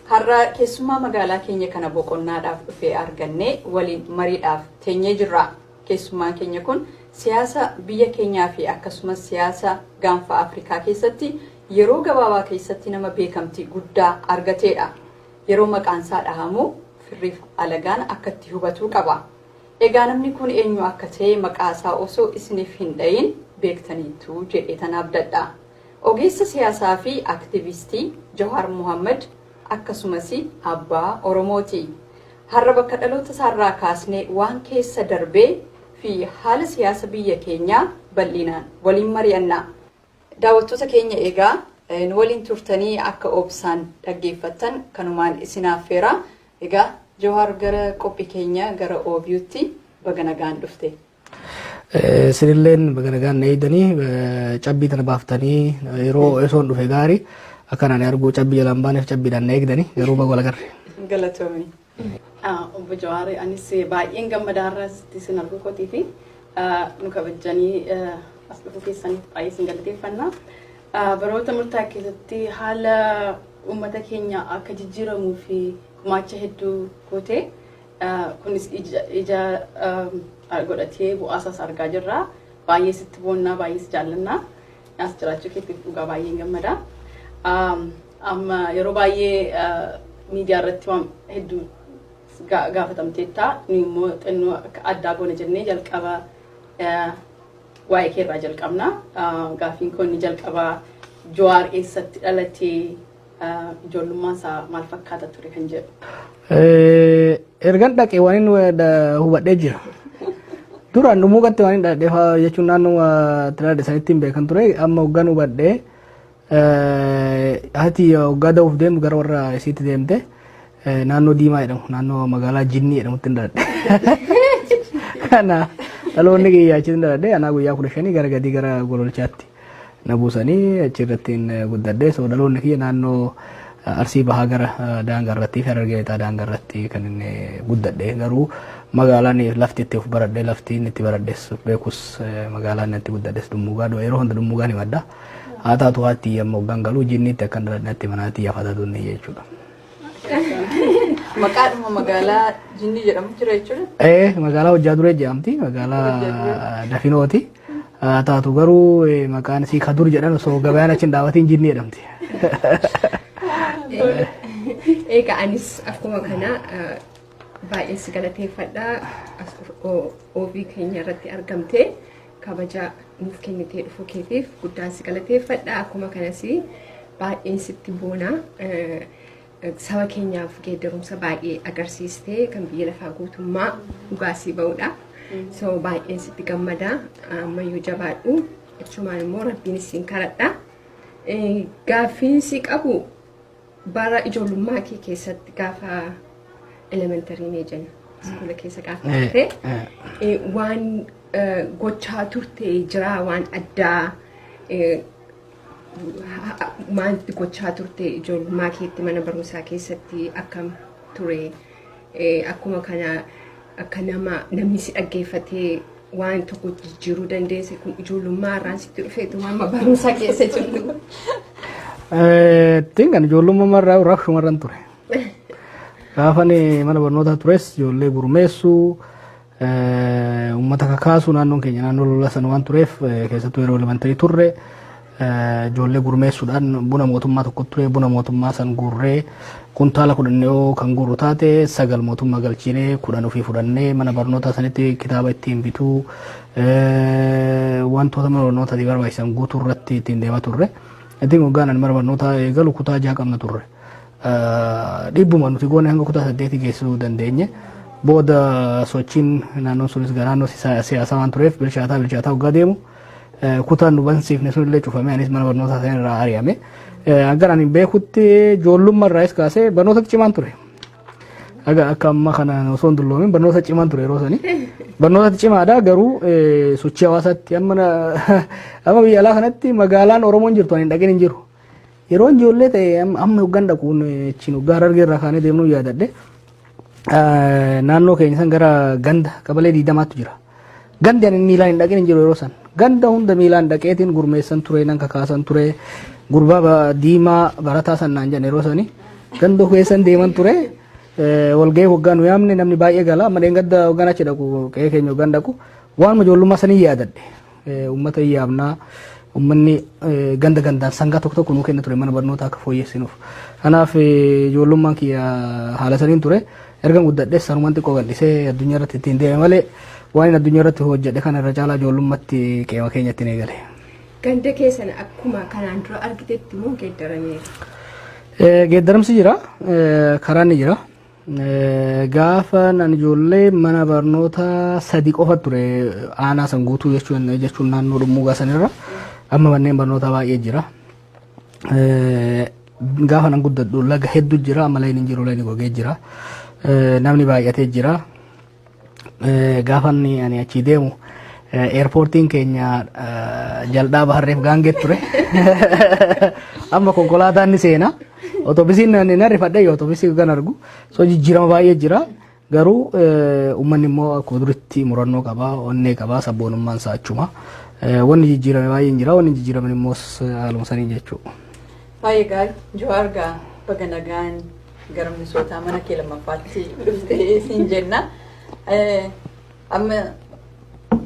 Har'a keessummaa magaalaa keenya kana boqonnaadhaaf dhufe argannee waliin mariidhaaf teenyee jirra. Keessummaan keenya kun siyaasa biyya keenyaa fi akkasumas siyaasa gaanfa Afrikaa keessatti yeroo gabaabaa keessatti nama beekamtii guddaa argateedha. Yeroo maqaansaa dhahamu firriif alagaan akka itti hubatuu qaba. Egaa namni kun eenyu akka ta'e maqaasaa osoo isiniif hin dhayin beektaniittu jedheetan abdadha. Ogeessa siyaasaa fi aktivistii Jawaar Mohaammad akkasumas abbaa Oromooti. Har'a bakka dhaloota isaarraa kaasnee waan keessa darbee fi haala siyaasa biyya keenyaa bal'inaan waliin mari'anna. Daawwattoota keenya egaa nu waliin turtanii akka obsaan dhaggeeffattan kanumaan isin affeera. Egaa Jawaar gara qophii keenya gara OBUtti baga nagaan dhufte. Sinilleen baga nagaan na eegdanii cabbii tana baaftanii yeroo osoon dhufe gaarii akkan ani arguu cabbii jalaan baaneef cabbiidhaan na eegdanii garuu baga walagarre. Galatoomi. Obbo Jawaari anis baay'een gammadaa irraa sitti sin arguu kootii fi nu kabajjanii as dhufuu keessaniif baay'ee sin galateeffanna. Baroota murtaa'e keessatti haala uummata keenya akka jijjiiramuu fi gumaacha hedduu gootee Kunis ija godhatee bu'aasaas argaa jirra. Baay'ee sitti boonnaa, baay'ee si jaallannaa. As jiraachuu keetiif dhugaa baay'een gammada. Amma yeroo baay'ee miidiyaa irratti waan hedduu gaafatamteetta. Nu immoo xinnoo akka addaa goona jennee jalqaba waa'ee kee irraa jalqabna. Gaaffiin koo inni jalqabaa Jawaar eessatti dhalatee? ijoollummaan isaa maal fakkaata ture kan jedhu. Ergan dhaqee waan inni hubadhee jira. Duraan dhumuu gatti waan inni dhaqee jechuun naannoo tilaadha isaanitti hin beekan ture amma hoggan hubadhee haati hoggaa da'uuf deemtu gara warra isiitti deemte naannoo diimaa jedhamu naannoo magaalaa jinnii jedhamutti hin dhaladhe. Kana dhaloonni kiyyaa achitti hin dhaladhe anaa guyyaa kudha shanii gara gadii gara gololchaatti. na buusanii achi irrattiin guddadhe so dhaloonni kiyya naannoo arsii bahaa gara daangaa irratti harargee lixaa daangaa irratti kan inni guddadhe garuu magaalaan lafti itti of baradhe lafti inni itti baradhes beekus magaalaan inni itti guddadhes dummuugaa dho yeroo hunda dummuugaan himadha haa taatu haatti amma hoggaan galuu jinniitti akkan dhaladhatti manaatii yaafata tunne jechuudha. Maqaadhuma magaalaa jinnii jedhamu jira jechuudha. Ee magaalaa hojjaa duree jedhamti magaalaa dafinooti. haa taatu garuu eh, maqaan isii kadur jedhan osoo gabayaan achi hin dhaabatiin jinni jedhamti. Egaa anis akkuma kana eh, baay'een si galateeffadha as o- oobii keenya irratti argamtee kabaja nuuf kennitee dhufuu keetiif guddaan si galateeffadha akkuma kanas baay'een sitti boona eh, Saba keenyaaf geeddarumsa baay'ee agarsiiste kan biyya lafaa guutummaa dhugaa sii ba'udha. So baay'een sitti gammada ammayyuu jabaadhu achumaan immoo rabbiin isin kadhadha. Gaaffiin si qabu bara ijoollummaa kee keessatti gaafa elementarii mee jenna iskuula keessa gaafa turte waan gochaa turte jiraa waan addaa maal gochaa turte ijoollummaa keetti mana barumsaa keessatti akkam ture akkuma kana akka nama namni si dhaggeeffatee waan tokko jijjiiruu dandeesse kun ijoollummaa irraan sitti dhufeetu amma barumsaa keessa jirtu. Tinkan ijoollummaa irraa rakkuma irraan ture. Gaafan mana barnootaa tures ijoollee gurmeessuu. Uummata kakaasu naannoon keenya naannoo lola sana waan tureef keessattuu yeroo elementarii turre ijoollee gurmeessuudhaan buna mootummaa tokko ture buna mootummaa san guurree kuntaala kudhan yoo kan guurru taate sagal mootummaa galchiinee kudhan ofii fudhannee mana barnootaa sanitti kitaaba ittiin bituu wantoota mana barnootaatiif barbaachisan guutuu irratti ittiin deemaa turre. Ittiin waggaan ani mana barnootaa eegalu kutaa ja'a qabna turre. Dhiibbuma nuti goone hanga kutaa saddeetii geessisuu dandeenye. Booda sochiin naannoon sunis garaannoo siyaasaa waan tureef bilchaataa bilchaataa hoggaa deemu kutaan nu bansiifne sun illee cufame anis mana barnootaa sana irraa ari'ame. Hanga ani beekutti ijoollummaa irraas kaasee barnoota cimaan ture. Aga akka amma kana osoo hin dulloomin barnoota cimaan ture yeroo sani. Barnoota cimaadha garuu sochii hawaasaatti amma biyya alaa kanatti magaalaan Oromoon jirtu ani hin dhagin hin jiru. Yeroo ijoollee ta'e amma hoggan dhaqu achiin hoggaa harargee irraa kaanee deemnuu yaadadhe naannoo keenya san gara ganda qabalee diidamaattu jira. Gandi ani miilaan hin dhaqin hin jiru yeroo san. Ganda hunda miilaan dhaqeetiin gurmeessan ture nan kakaasan ture gurbaa diimaa barataa san naan jedhan yeroo sani ganda keessan deeman ture walgahii hoggaa nu yaamne namni baay'ee gala amma dheengadda hoggan achi dhaqu qe'ee keenya hoggan dhaqu waan ijoollummaa sanii yaadadhe. Uummata hin yaamnaa uummanni ganda gandaan sangaa tokko tokko nuu kenna ture mana barnoota akka fooyyessinuuf. Kanaaf ijoollummaan kiyya haala saniin ture. Ergan guddadhees sanumaan xiqqoo gadhisee addunyaa irratti ittiin deeme malee waan inni addunyaa irratti hojjedhe kana irra caalaa ijoollummaatti qeema keenya ittiin eegale. Ganda keessan akkuma kanaan dura argitetti moo geeddarameera? Geeddaramsi jira, karaan ni jira. Gaafa nan ijoollee mana barnootaa sadi qofa ture aanaa san guutuu jechuun jechuun naannoo dhummuugaa sanirra amma manneen barnootaa baay'ee jira. Gaafa nan guddadhu laga hedduu jira amma layin hin jiru layin gogee jira. Namni baay'atee jira. Gaafan ani achii deemu eerpoortiin keenya jal'aa baharreef gaangee ture. Amma konkolaataan ni seena. Otobisiin na rifadhe yoo otobisii kan argu. So jijjiirama baay'ee jira. Garuu uummanni immoo akkuma duritti murannoo qaba, onnee qaba, sabboonummaan isaa achuma. Wanni jijjiirame baay'een jira, wanni jijjiiraman immoo haaluma sanii jechuudha. Baay'ee gaarii. Jawaar gaa baga nagaan Gara Minisootaa mana kee lammaffaatti dhuftee siin jenna. Amma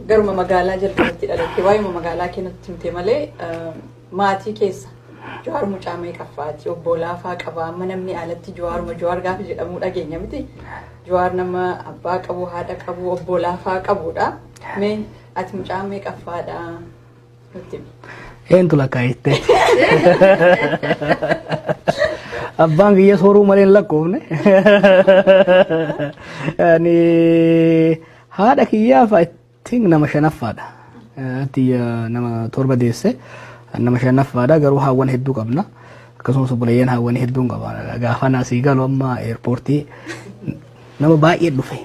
garuma magaalaa jalqabatti dhalatte waa'eema magaalaa kee nutti himte malee maatii keessa Jawaar mucaa meeqaffaati obbo Laafaa qabaa amma namni alatti Jawaaruma Jawaar gaafa jedhamu dhageenya miti. Jawaar nama abbaa qabu haadha qabu obbo Laafaa qabudha. Mee ati mucaa meeqaffaadha? Eentu lakkaa'ite. Abbaan kiyya sooruu malee hin lakkoofne. Ani haadha kiyyaaf I think nama shanaffaadha. Ati nama torba deesse nama shanaffaadha garuu haawwan hedduu qabna. Akkasumas obboleeyyan haawwan hedduun qaba. Gaafa naasii galu amma eerpoortii nama baay'ee dhufe.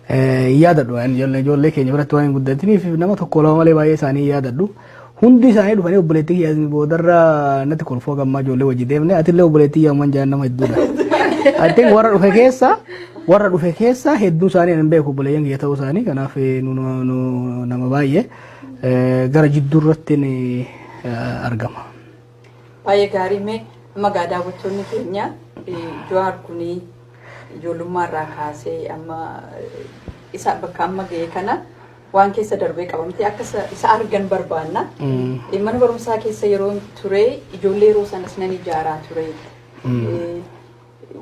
Hin yaadadhu waan ijoollee ijoollee keenya biratti waan hin guddatiniif nama tokko lama malee baay'ee isaanii hin yaadadhu. Hundi isaanii dhufanii obboleettii kiyya boodarra natti kolfoo gammaa ijoollee wajji deemne atillee obboleettii kiyya amman jaan nama hedduudha. I think warra dhufe keessa warra dhufe keessa hedduu isaanii hin beeku obboleeyyan kiyya ta'uu isaanii kanaaf eh, nu nu- nu- nama baay'ee eh, gara jidduu irratti ni, eh, argama. Baay'ee gaarii mee amma gaa daawwattoonni keenya Jawaar kun ijoollummaa irraa kaasee amma isa bakka amma ga'e kana waan keessa darbee qabamtee akka isa- isa argan barbaanna. Mana barumsaa keessa yeroo ture ijoollee yeroo sanas nan ijaaraa ture.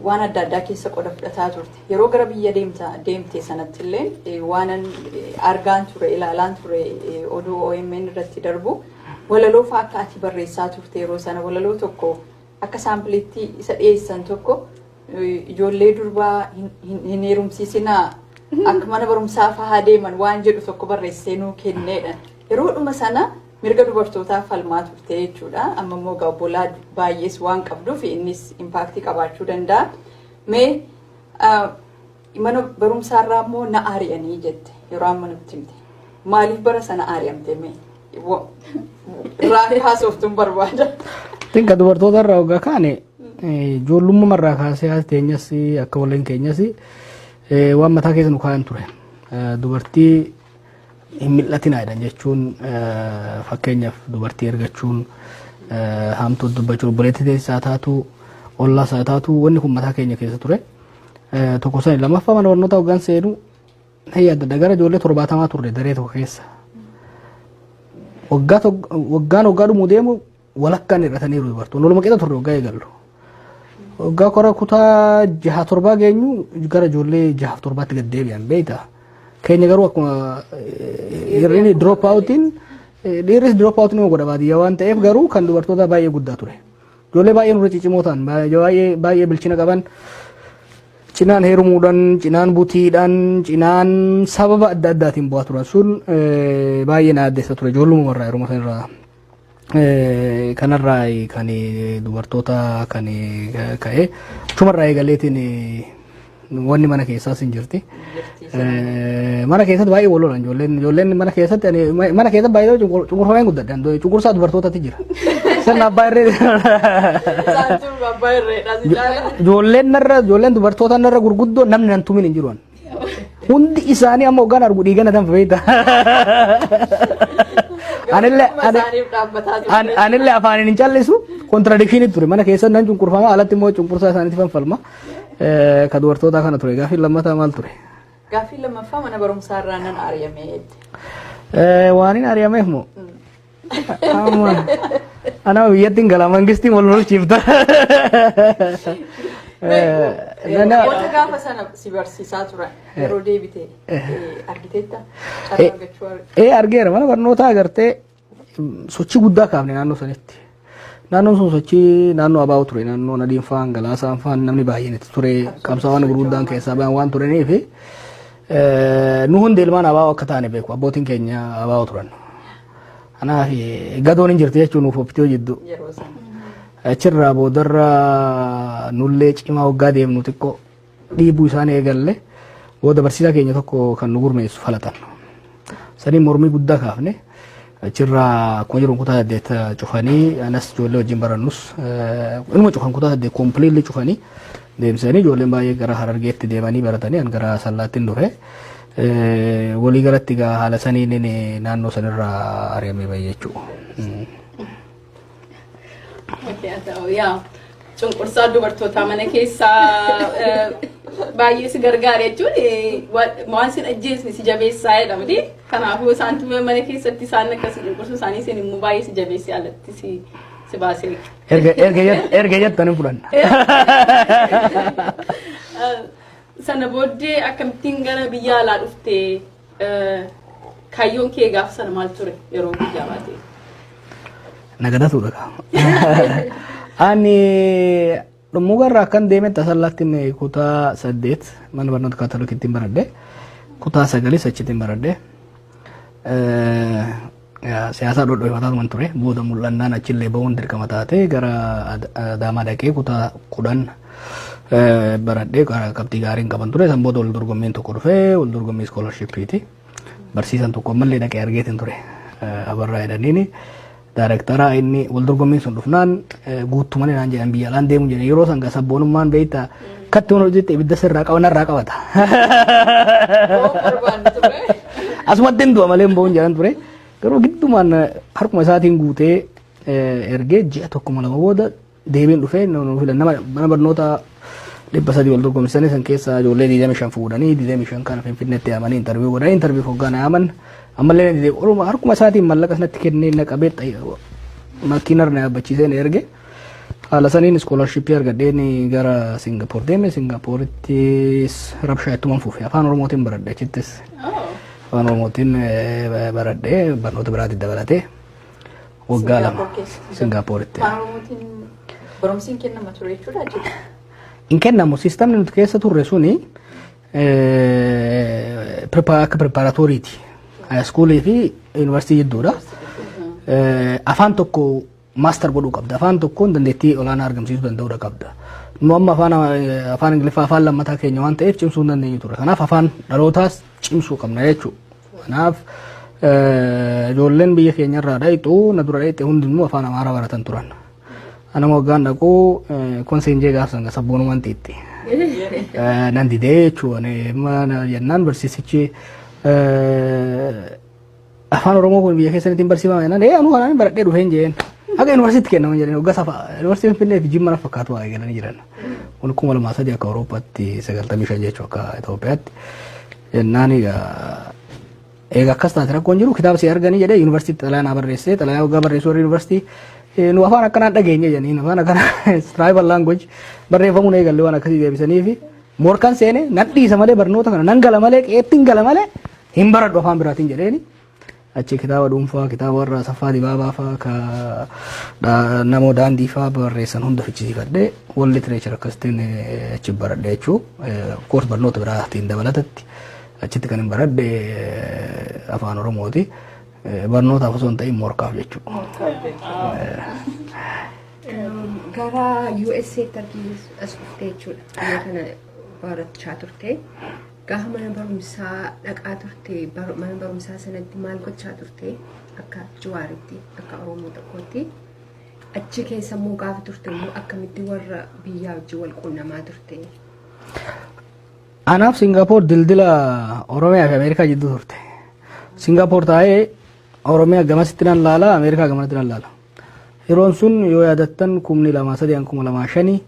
waan adda addaa keessa qoda fudhataa turte. Yeroo gara biyya deemta deemte sanatti illeen eh, waanan eh, argaan ture ilaalaan ture eh, oduu OMN irratti darbu walaloo fa'aa akka ati barreessaa turte yeroo sana walaloo tokko akka saampiliitti isa dhiyeessan tokko eh, ijoollee durbaa hin- hin hin heerumsiisinaa akka mana barumsaa fa'aa deeman waan jedhu tokko barreessee nuu kenneedha. Yeroodhuma sana Mirga dubartootaaf falmaa turte jechuudha. Amma immoo egaa obbolaa baay'ees waan qabduuf innis impaaktii qabaachuu danda'a. Mee mana barumsaarraa immoo na ari'anii jette yeroo amma nutti himte. Maaliif bara sana ari'amte mee? Raafii haasoftuun barbaada. Xiqqaa dubartoota irraa ogaa kaane ijoollummaa irraa kaasee haati teenyas akka waliin keenyas waan mataa keessa nu kaa'an ture. Dubartii hin mil'atinaa jedhan jechuun fakkeenyaaf dubartii ergachuun haamtuu dubbachuu obboleettii teessaa taatu ollaa isaa taatu wanni kun mataa keenya keessa ture tokko sani lammaffaa mana barnootaa hoggaan seenu na yaadadha gara ijoollee torbaatamaa turre daree tokko keessa waggaa waggaan hoggaa dhumuu deemu walakkaan hir'ataniiru dubartoonni waluma qixa turre waggaa eegallu. Waggaa kora kutaa jaha torbaa geenyu gara ijoollee jahaaf torbaatti gad deebi'an beekta. Keenya garuu akkuma hir'inni drop outiin dhiirris drop out nama godha baadiyyaa waan ta'eef garuu kan dubartootaa baay'ee guddaa ture. Ijoollee baay'ee nurra ciccimoo ta'an baay'ee baay'ee bilchina qaban cinaan heerumuudhaan cinaan butiidhaan cinaan sababa adda addaatiin bu'aa turan sun baay'ee na addeessa ture ijoollumuma irraa yeruma sanarraa kanarraa kan dubartoota kan ka'e achumarraa eegaleetiin wanni mana keessaas hin jirti. Mana keessatti baay'ee wal lolan ijoolleen ijoolleen mana keessatti ani mana keessatti baay'ee cunqurfamee guddadha cunqursaa dubartootatti jira. Sirna abbaa irree Ijoolleen narra ijoolleen dubartoota narra gurguddoo namni nan tumin hin jiru. Hundi isaanii amma hoggaan argu dhiiga na danfa beekta. Anillee anillee afaaniin hin callisu kontiradikshinii ture mana keessa nan cunqurfama alatti immoo cunqursaa isaaniitti fanfalma. Ka dubartootaa kana ture gaaffiin lammataa maal ture? Gaaffiin lammaffaa mana barumsaa irraa nan ari'ame. Waan hin ari'ameef moo? Amma anaa biyyatti hin gala mangistiin wal lolchiifta. Namoota gaafa sana si barsiisaa turan yeroo deebite argiteetta carraa argachuu Ee argeera mana barnootaa agartee sochii guddaa kaafne naannoo sanitti. Naannoon sun sochii naannoo abaa'u ture naannoo nadiin faan galaasaan faan namni baay'een itti ture qabsaawwan gurguddaan keessaa bayan waan turanii fi nu hundi ilmaan abaa'u akka taane beeku abbootiin keenya abaa'u turan. Kanaaf gadoon hin jirti jechuun nuuf ofitti hojjeddu. Achirraa boodarra nullee cimaa waggaa deemnu xiqqoo dhiibuu isaan eegalle booda barsiisaa keenya tokko kan nu gurmeessu falatan. Saniin mormii guddaa kaafne achirraa akkuma jiruun kutaa saddeet cufanii anas ijoollee wajjin barannus inuma cufan kutaa saddeet kompiliilli cufanii deemsisanii ijoolleen baay'ee gara harargeetti deemanii baratanii an gara sallaattiin dhufe. Walii galatti egaa haala saniin naannoo sanirraa ari'amee bahe jechuudha. Yaa cunqursaa dubartootaa mana keessaa baay'ee si gargaara jechuun waan sin ajjeesne si jabeessaa jedha miti. Kanaafuu isaan tumee mana keessatti isaan akkasii cunqursuu isaanii isin immoo baay'ee si jabeessee alatti si si baasee. Erga erga jett- erga jettan hin fudhanna. Sana booddee akkamittiin gara biyya alaa dhufte Kaayyoon kee gaafa sana maal ture yeroo guyyaa baatee? Nagadatu dhaga. Ani dhummuga irraa akkan deeme tasallaatti inni kutaa saddeet mana barnoota kaatolikiitti hin baradhe. Kutaa sagalis achitti hin baradhe. Siyaasaa dhodhoifataaman ture booda mul'annaan achillee ba'uun dirqama taatee gara Adaamaa dhaqee kutaa kudhan baradhee qabxii gaariin qaban ture san booda wal dorgommiin tokko dhufee wal dorgommii iskoolarshippiiti. Barsiisan tokko ammallee dhaqee argeetiin ture abarraa jedhaniini. Daarektaraa inni wal dorgommiin sun dhufnaan guuttumanii naan jedhan biyya alaan deemu jedhan yeroo san sabboonummaan beektaa Kattuun hojiitti ibidda sirraa qaba narraa qabata. Asumatti hin du'a malee hin bo'uun jedhan ture. Garuu giddumaan harkuma isaatiin guutee ergee ji'a tokko lama booda deebiin dhufee nu filan nama mana barnoota dhibba sadii wal dorgomsisanii san keessaa ijoollee digdami shan fuudhanii digdami shan kana finfinneetti yaamanii intarviyu godhanii intarviyu hoggaan yaaman ammallee na didee oruma harkuma isaatiin mallaqas natti kennee na qabee makiinarra na yaabbachiisee na erge. Haala saniin iskoolarshippii argadheen gara Singapoor deeme. Singapoorittis rabshaa ittuman fufe. Afaan Oromootiin baradhe achittis. Afaan Oromootiin eh, baradhe barnoota biraatti dabalatee waggaa lama Singapooritti. Afaan Oromootiin barumsiin kennama ture jechuudha jechuudha. Hin kennamu siistamni nuti keessa turre suni eh, prepa- akka preparatooriiti. Haayiskuulii fi yuunivarsiitii jidduudha. Eh, Afaan tokko master godhuu qabda. Afaan tokkoon dandeettii olaanaa argamsiisuu danda'uudha qabda. Nu amma afaan eh, afaan Ingiliffaa afaan lammataa keenya waan ta'eef cimsuu hin dandeenyu turre. Kanaaf afaan dhalootaas cimsuu qabna jechuudha. Kanaaf eh, ijoolleen biyya keenya irraa dhayxu na dura dhayxe hundinuu afaan Amaaraa baratan turan. Anama waggaan dhaqu eh, konseen jee gaafsan ga sabboonumaan xiixxi. Eh, Nan didee jechuudha. Jennaan barsiisichi eh, Afaan Oromoo kun biyya keessanitti hin barsiifama jennaan ee anuu kanaan baradhee dhufee hin jeen. Akka yuunivarsiitti kennaman jedhanii waggaa safa yuunivarsiitiin Finfinnee fi Jimma na fakkaatu waa eegalanii jiran. Kun kuma lamaa sadii akka Awurooppaatti sagaltamii shan jechuu akka Itoophiyaatti jennaan egaa eega akkas taate rakkoon jiru kitaaba si arganii jedhee yuunivarsiitti xalayaa naa barreessee xalayaa waggaa barreessuu warri yuunivarsiitii nu afaan akkanaan dhageenye jedhanii afaan akkanaa tribal language barreeffamuun eegalle waan akkasii deebisanii fi Morkan seene nan dhiisa malee barnoota kana nan gala malee qe'eettiin gala malee hin baradhu afaan biraatiin jedheeni. Achi kitaaba dhuunfaa kitaaba warra Asaffaa Dibaabaa faa ka dha- namoo daandii faa barreessan hunda fichisiifadhee wal literature akkasitiin eh, achi baradhe jechuu of course barnoota biraatiin dabalatatti achitti kan hin baradhe eh, afaan Oromooti. Eh, Barnootaaf osoo hin ta'in morkaaf jechuu. Gara USA tarkiis as dhuftee jechuudha. Biyya kana barachaa turte. Gaafa mana barumsaa dhaqaa turte mana barumsaa sanatti maal gochaa turte akka jiwaaritti akka Oromoo tokkootti. Achi keessa immoo gaafa turte immoo akkamitti warra biyyaa wajjin wal quunnamaa turte. Anaaf Singaapoor dildila Oromiyaa fi Ameerikaa jidduu turte. Singaapoor taa'ee Oromiyaa gamasitti nan laala Ameerikaa gamanatti nan laala. Yeroon sun yoo yaadattan kumni lamaa sadii hanga kuma lamaa shanii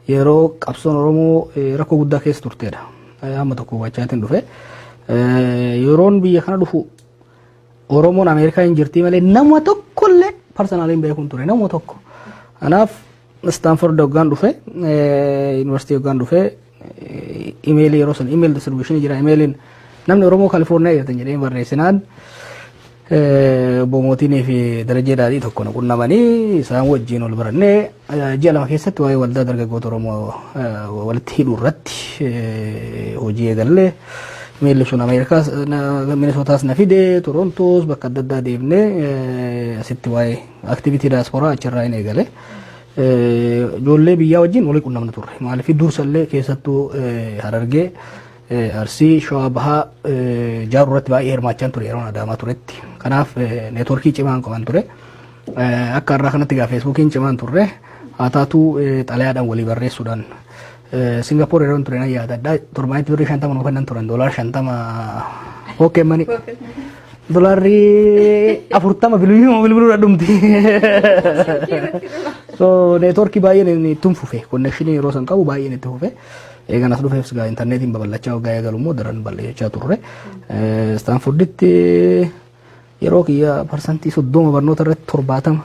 yeroo qabsoon Oromoo eh, rakkoo guddaa keessa turteedha. Eh, Hamma tokko hubachaatiin dhufe. Eh, Yeroon biyya kana dhufu Oromoon Ameerikaa hin jirtii malee nama tokkollee parsanaalii hin beekuun ture nama tokko. Kanaaf Istaanford hoggaan dhufe yuunivarsiitii hoggaan dhufe imeelii yeroo sun imeelii distribuushinii jira imeeliin namni Oromoo Kaalifoorniyaa jirtan jedhee barreessinaan boomootiinii fi darajee daadhii tokko nu qunnamanii isaan wajjin ol barannee ji'a lama keessatti waa'ee waldaa dargaggoota Oromoo walitti hidhuu irratti hojii eegallee imeelli sun Ameerikaas Minisootaas na fide Torontoos bakka adda addaa deemnee asitti waa'ee Activity diaspora achirraa hin eegale. Ijoollee biyyaa wajjin walii qunnamna turre. Maaliif dursallee keessattuu harargee arsii shawaa bahaa jaaruu irratti baay'ee hirmaachaan ture yeroo adaamaa turetti. Kanaaf neetworkii cimaan qaban ture. Akka irraa kanatti gaa feesbuukiin cimaan turre haa taatuu xalayaadhaan walii barreessuudhaan Singapore yeroon ture nan yaadadha. Torbaanitti birrii shantama nu kennan turan doolaar shantama pookeen manii. Doolaarri afurtama bilbiluma bilbiluudha dhumti. So neetworkii baay'een ittiin fufe konnekshinii yeroo san qabu baay'een itti fufe. Eegan as dhufeef sigaa intarneetiin babal'achaa waggaa eegalu immoo daran bal'achaa turre. Istaanforditti Yeroo kiyya parsantii soddoma barnoota irratti torbaatama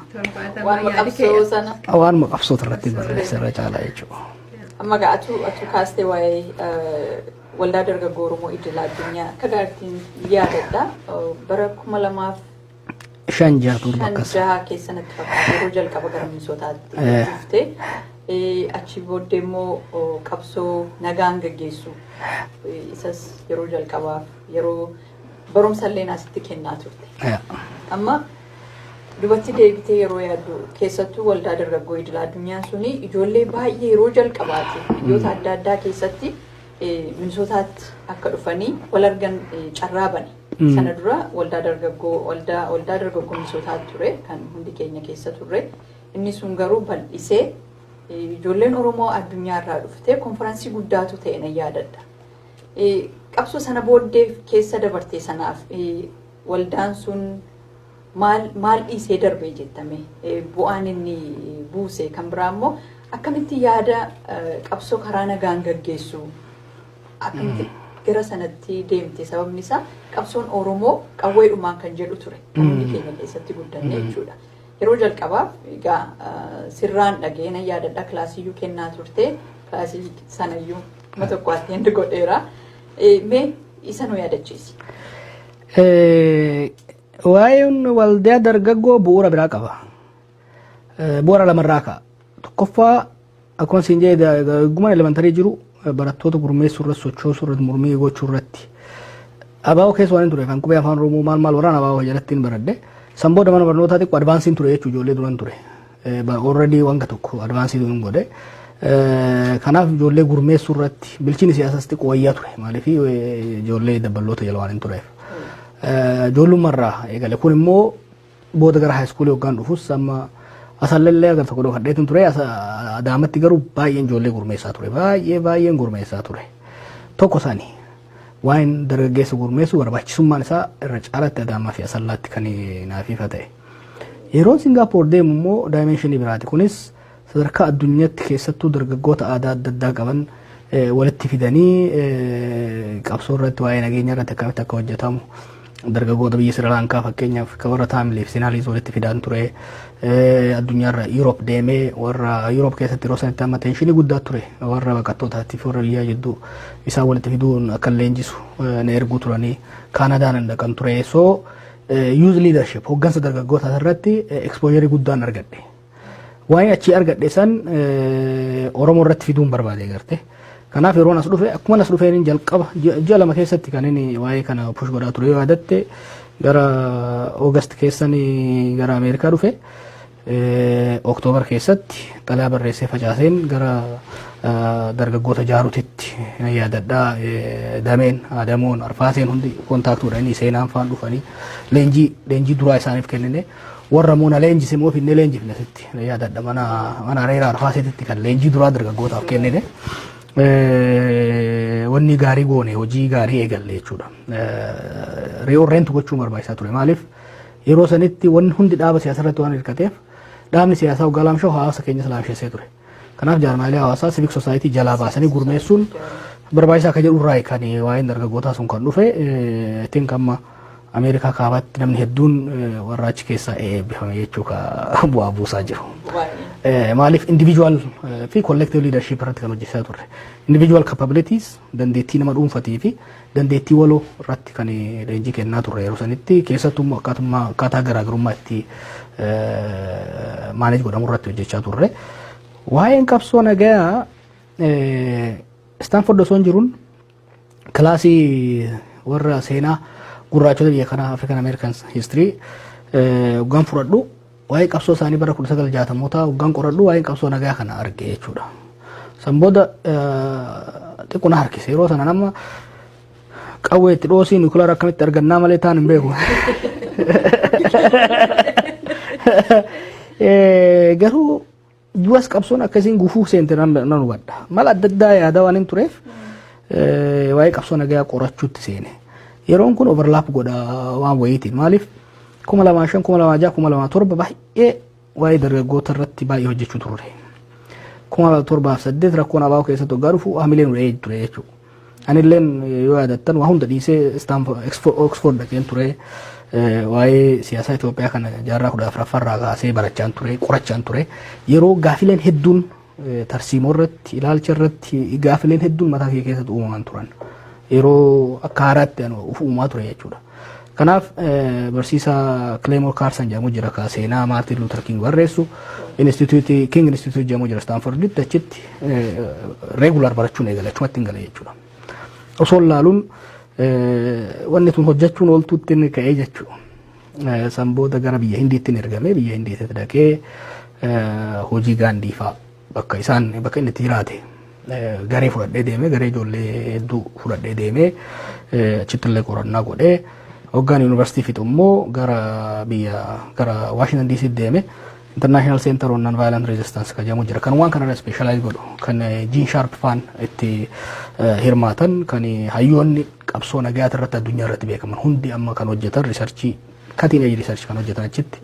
Waanuma qabsoo sana. waanuma qabsoota irratti barreessa irra caalaa jechuudha. Amma egaa atu atu kaastee waa'ee eh, waldaa dargaggoo Oromoo idil addunyaa akka gaariitiin yaadadha. Eh, Bara kuma lamaaf Shan jaha torba shan akkas. jaha keessa natti fakkaata yeroo jalqaba gara Minisootaatti Eh. dhufte. Eh, Achi booddee immoo oh, qabsoo nagaan gaggeessu. Eh, Isas yeroo jalqabaaf yeroo Barumsa illee asitti kennaa turte. Amma dubatti deebitee yeroo yaaddu keessattuu waldaa dargaggoo idil addunyaa suni ijoollee baay'ee yeroo jalqabaati biyyoota adda addaa keessatti minisootaatti akka dhufanii wal argan carraa bane. Sana dura waldaa dargaggoo waldaa waldaa dargaggoo minisootaatti ture kan hundi keenya keessa turre. Inni sun garuu bal'isee ijoolleen Oromoo addunyaa irraa dhufte konfiraansii guddaatu ta'e na yaadadha. Qabsoo sana booddee keessa dabarte sanaaf waldaan sun maal maal dhiisee darbee jettame bu'aan inni buuse kan biraa immoo akkamitti yaada qabsoo karaa nagaan gaggeessu akkamitti gara sanatti deemte sababni isaa qabsoon Oromoo qawweedhumaan kan jedhu ture kan hundi keenya keessatti guddanne jechuudha. Yeroo jalqabaaf egaa sirraan dhaga'ee nan yaadadha kilaasiyyuu kennaa turte kilaasii sanayyuu Kuma tokko attend godheera. Mee isa nu yaadachiisi. Waa'een waldaa dargaggoo bu'uura biraa qaba. Bu'uura lamarraa ka'a. Tokkoffaa akkuma siin jedhe dargagummaan elementarii jiru barattoota gurmeessuu irratti sochoosuu irratti mormii gochuu irratti. Abaaboo keessa waan hin ture kan qubee afaan Oromoo maal maal waraan abaaboo jalatti hin baradde. San booda mana barnootaa xiqqoo advaansiin ture jechuudha ijoollee duran ture. Already wanga tokko advaansii hin godhe. Kanaaf ijoollee gurmeessuu irratti bilchini siyaasas xiqqoo wayyaa ture. Maaliif ijoollee dabballoota jala waan hin tureef. Ijoollummarraa eegale kun immoo booda gara haayiskuulii hoggaan dhufus amma asallallee agar tokko dhokadheetin ture adaamatti garuu baay'een ijoollee gurmeessaa ture. Baay'ee baay'een gurmeessaa ture. Tokko isaanii waan dargaggeessa gurmeessu barbaachisummaan isaa irra caalaatti adaamaa fi asallaatti kan naaf ifa ta'e. Yeroon Singaapoor deemu immoo daayimeenshinii biraati. Kunis sadarkaa addunyaatti keessattuu dargaggoota aadaa adda addaa qaban walitti fidanii qabsoo irratti waa'ee nageenya irratti akkamitti akka hojjetamu dargaggoota biyya Sirilaankaa fakkeenyaaf kan warra Taamilii fi Sinaaliis walitti fidaan ture addunyaarra Yuuroop deemee warra Yuuroop keessatti yeroo sanatti amma teenshinii guddaa ture warra baqattootaatiif warra biyyaa jidduu isaan walitti fiduun akka leenjisu na erguu turanii Kaanadaan hin dhaqan ture. So Youth leadership hoggansa dargaggootaa irratti exposure guddaan argadhe. Waa'ee achii argadhe san Oromoo irratti fiduun barbaade garte. Kanaaf yeroon as dhufe akkuma as dhufeen jalqaba ji'a lama keessatti kan inni waa'ee kana push godhaa ture yoo yaadatte gara August keessan gara Ameerikaa dhufe. Oktoobar keessatti xalaa barreessee facaaseen gara dargaggoota jaarutitti na yaadadhaa dameen adamoon arfaaseen hundi kontaaktuudha inni seenaan faan dhufanii leenjii leenjii duraa isaaniif kennine warra immoo na leenjise immoo finnee leenjifne sitti na yaadadha mana mana areera arfaaseetitti kan leenjii duraa dargaggootaaf kennine wanni gaarii goone hojii gaarii eegalle jechuudha. Ri'oorreentu gochuu barbaachisaa ture maaliif? Yeroo sanitti wanni hundi dhaaba siyaasaa irratti waan hirkateef dhaabni siyaasaa hoggaa laamshaa'u hawaasa keenyas laamsheessee ture. Kanaaf jaarmaalee hawaasaa civic society jalaa baasanii gurmeessuun barbaachisaa akka jedhu irraa kan waa'een dargaggootaa sun kan dhufe ittiin kamma Ameerikaa kaabaatti namni hedduun warra achi keessaa eebbifame jechuu ka bu'aa buusaa jiru. Maaliif individual fi collective leadership irratti kan hojjechaa turre. Individual capabilities dandeettii nama dhuunfatii fi dandeettii waloo irratti kan leenjii kennaa turre yeroo sanitti keessattuu immoo akkaatummaa akkaataa garaagarummaa itti maaneej godhamu irratti hojjechaa turre. Waa'een qabsoo nagayaa Istaanford osoo hin jiruun kilaasii warra seenaa gurraachota biyya kanaa African Americans history hoggaan fudhadhu Waa'ee qabsoo isaanii bara 1960mootaa hoggaan qoradhu waa'een qabsoo nagaa kana arge jechuudha. San booda xiqqoo na harkise yeroo sana nama qawwee itti dhoosii nukilaara akkamitti argannaa malee taan hin beeku. Garuu Duras qabsoon akkasiin gufuu seente nan nan hubadha. Mala adda addaa yaadaa waan hin tureef eh, waa'ee qabsoo nagayaa qorachuutti seene. Yeroon kun overlap godha waan wayiitiin. Maaliif kuma lamaa shan, kuma lamaa jaha, kuma lamaa torba baay'ee waa'ee dargaggoota irratti baay'ee hojjechuu turre. Kuma torbaaf saddeet rakkoon abaa'oo keessatti hoggaa dhufu hamileen wa'ee ture jechuudha. Anilleen yoo yaadattan waa hunda dhiisee Istaanfo- Exfo- Oxford dhaqeen ture eh, waa'ee siyaasaa Itoophiyaa kana jaarraa kudha afraffaa irraa kaasee barachaan ture qorachaan ture yeroo gaafileen hedduun eh, tarsiimoo irratti ilaalcha irratti gaafileen hedduun mataa kee keessatti uumaman turan yeroo akka haaraatti anu of uumaa ture jechuudha. Kanaaf barsiisaa Kileemoo Kaarsan jedhamu jira ka seenaa Maartiin Luutar Kiing barreessu Inistituutii Kiing Inistituutii jedhamu jira Istaanforditti achitti reegular barachuun eegale achumatti hin gale jechuudha. Osoo laaluun wanni tun hojjechuun ooltuutti inni ka'ee jechuudha. San booda gara biyya Hindiitti hin ergame biyya Hindiitti dhaqee hojii gaandii fa'a bakka isaan bakka inni itti jiraate garee fudhadhee deemee garee ijoollee hedduu fudhadhee deemee achitti illee qorannaa godhee hoggaan yuunivarsiitii fixu immoo gara biyya gara Waashintan DC deeme International Center on Nonviolent Resistance kan jedhamu jira kan waan kanarra specialize godhu kan Gene Sharp faan itti hirmaatan kan hayyoonni qabsoo nagayaa irratti addunyaa irratti beekaman hundi amma kan hojjetan riisarchii Cutting edge research kan hojjetan achitti.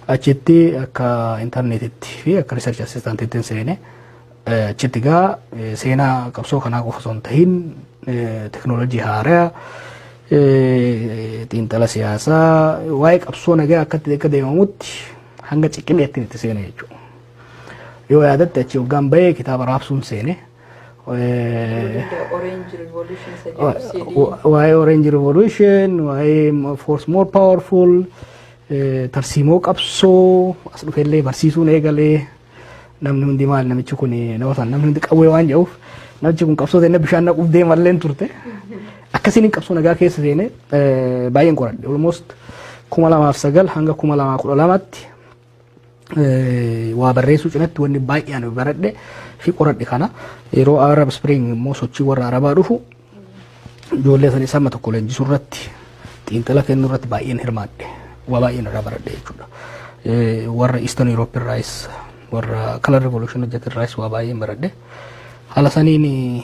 Achitti akka intarneetitti fi akka research assistanttitti hin seene. Eh, Achitti gaa eh, seenaa qabsoo kanaa qofa osoo hin tahin eh, teknoolojii haaraa eh, xiinxala siyaasaa waa'ee qabsoo nagaa akkatti akka deemamutti hanga ciqileetti itti seene jechuudha. Yoo yaadatte achi hoggaan bahee kitaaba raabsuun seene. waa'ee orange revolution waa'ee force more powerful tarsiimoo qabsoo as dhufellee barsiisuun eegalee namni hundi maal namichi kun nama sana namni hundi qawwee waan jedhuuf namichi kun qabsoo seenne bishaan naquuf deemalleen turte akkasiin qabsoo nagaa keessa seene baay'een qoradhe almost kuma lamaaf sagal hanga kuma lamaa kudha lamaatti waa barreessuu cinatti wanni baay'ee ani baradhe fi qoradhe kana yeroo Arab Spring immoo sochii warra Arabaa dhufu ijoollee sana isaan tokko leenjisuu irratti xiinxala kennuu irratti baay'een hirmaadhe waa baay'een irraa baradhe jechuudha. Warra Eastern Europe irraayis warra Color Revolution hojjetan irraayis waa baay'een baradhe. Haala saniin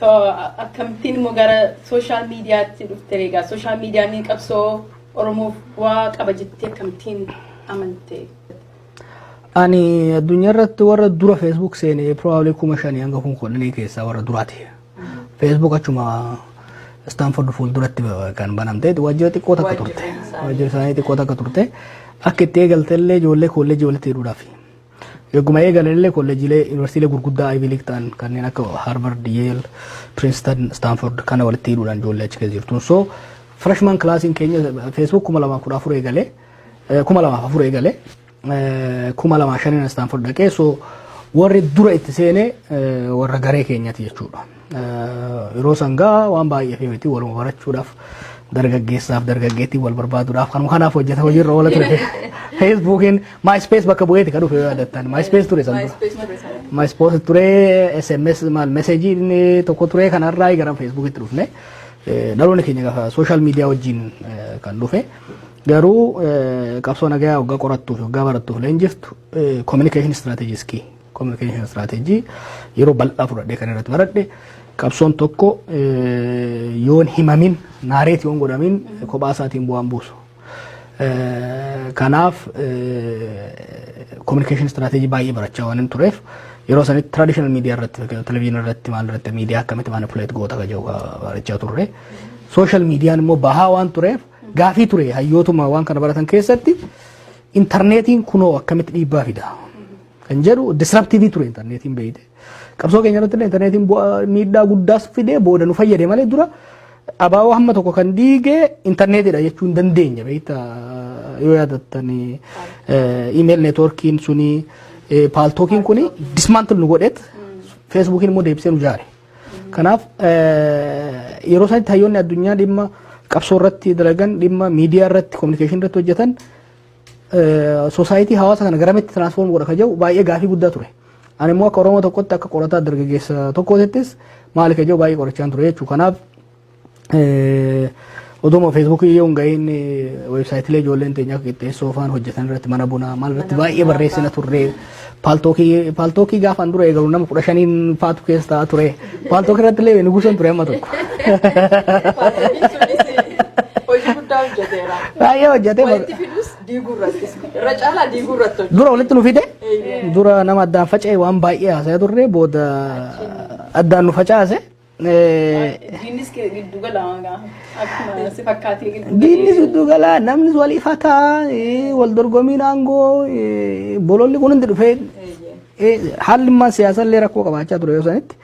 So akkamittiin immoo gara sooshaal miidiyaatti dhufte egaa sooshaal miidiyaan qabsoo Oromoof bu'aa qaba jettee akkamittiin amante? Ani addunyaa irratti warra dura Facebook seene probably kuma shanii hanga kun kudhanii keessaa warra duraati. Facebook achuma Stanford fuulduratti kan banamte waajjira xiqqoo takka turte. Waajjira isaanii xiqqoo takka turte. Akka itti eegalte illee ijoollee koolleejii walitti hidhuudhaafi. Eeguma eegalanillee kolleejjiilee yuunivarsiitiilee gurguddaa Ivy League ta'an kanneen akka Harvard, Yale, Princeton, Stanford kana walitti hidhuudhaan ijoollee achi keessa jirtuun. So freshman classiin keenya Facebook 2014 eegale, 2004 eegale, 2005 Stanford dhaqee so warri dura itti seene warra garee keenyati jechuudha. Yeroo sangaa waan baay'eef miti waluma barachuudhaaf dargaggeessaaf dargaggeettiin wal barbaaduudhaaf kanuma kanaaf hojjeta hojiirra oola ture. Feesbuukiin MySpace bakka bu'eeti kan dhufe yoo yaadattan MySpace ture san dura. MySpace ture sana. MySpace ture SMS maal meseejii inni tokko ture kanarraa gara Feesbuukitti dhufne. Eh, Dhaloonni keenya gaafa sooshaal miidiyaa wajjin eh, kan dhufe. Garuu eh, qabsoo nagayaa waggaa qorattuuf waggaa barattuuf leenjiftu kominikeeshin istiraateejii iskii Communication strategy yeroo bal'aa fudhadhee kan irratti baradhe qabsoon tokko eh, yoon himamin naareet yoon godhamin kophaa isaatiin bu'aan buusu. Eh, Kanaaf communication strategy baay'ee barachaa waan hin tureef yeroo sanitti traditional media irratti televizyinii irratti maal irratti media akkamitti manipulate goota kan jedhu barachaa turre. Social mediaan immoo bahaa waan tureef gaafii ture hayyootuma waan kana baratan keessatti intarneetiin kunoo akkamitti dhiibbaa fida. kan jedhu disruptive ture intarneetiin beeyte. Qabsoo keenya irratti illee intarneetiin bu'aa miidhaa guddaas fidee booda nu fayyade malee dura abaaboo hamma tokko kan diige intarneetidha jechuu hin dandeenya beekta yoo yaadattan iimeel neetwoorkiin suni paaltookiin kuni dismaantil nu godheet feesbuukiin immoo deebisee nu jaare. Kanaaf yeroo sanatti hayyoonni addunyaa dhimma qabsoo irratti dalagan dhimma miidiyaa irratti kominikeeshinii irratti hojjetan Soosaayitii hawaasa kana garamitti tiraansfoorm godha ka jedhu baay'ee gaafii guddaa ture. Ani immoo akka Oromoo tokkotti akka qorataa dargaggeessa tokkootittis maali ka jedhu baay'ee qorachaan ture jechuudha. Kanaaf oduma feesbuukii yoo hin ga'iin weebsaayitilee ijoolleen teenya akka qixxeessoo faan hojjetan irratti mana bunaa maal irratti baay'ee barreessina turre. Paaltookii paaltookii gaafaan dura eegalu nama kudha shaniin faatu keessa ta'a ture. Paaltookii irratti illee nugusan ture amma tokko. Paaltookii sunis hojii guddaa hojjeteera. Baay'ee hojjetee Walitti fidus diiguu irrattis. Irra caalaa diiguu irratti hojjeta. dura walitti nu fide Eeyyee. dura nama addaan faca'e waan baay'ee haasa'aa turre booda addaan nu facaase. Diinnis giddu gala akkuma si fakkaatee giddu gala. Diinnis giddu gala namnis wal ifata wal dorgomiin aangoo bololli kun hundi dhufee haalli immaan siyaasa illee rakkoo qabaachaa ture yoo sanitti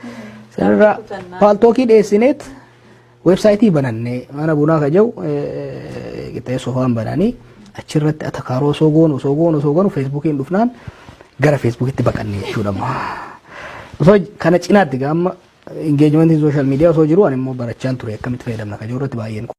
sanirraa paaltookii dhiyeessineet weebsaayitii banannee mana bunaa ka jedhu qixxeessoo waan bananii achirratti atakaaroo osoo goonu osoo goonu osoo goonu feesbuukiin dhufnaan gara feesbuukitti baqannee jechuudha. Osoo kana cinaatti gaamma Engagement in social media osoo jiru ani immoo barachaan ture akkamitti fayyadamna kan jiru irratti baay'een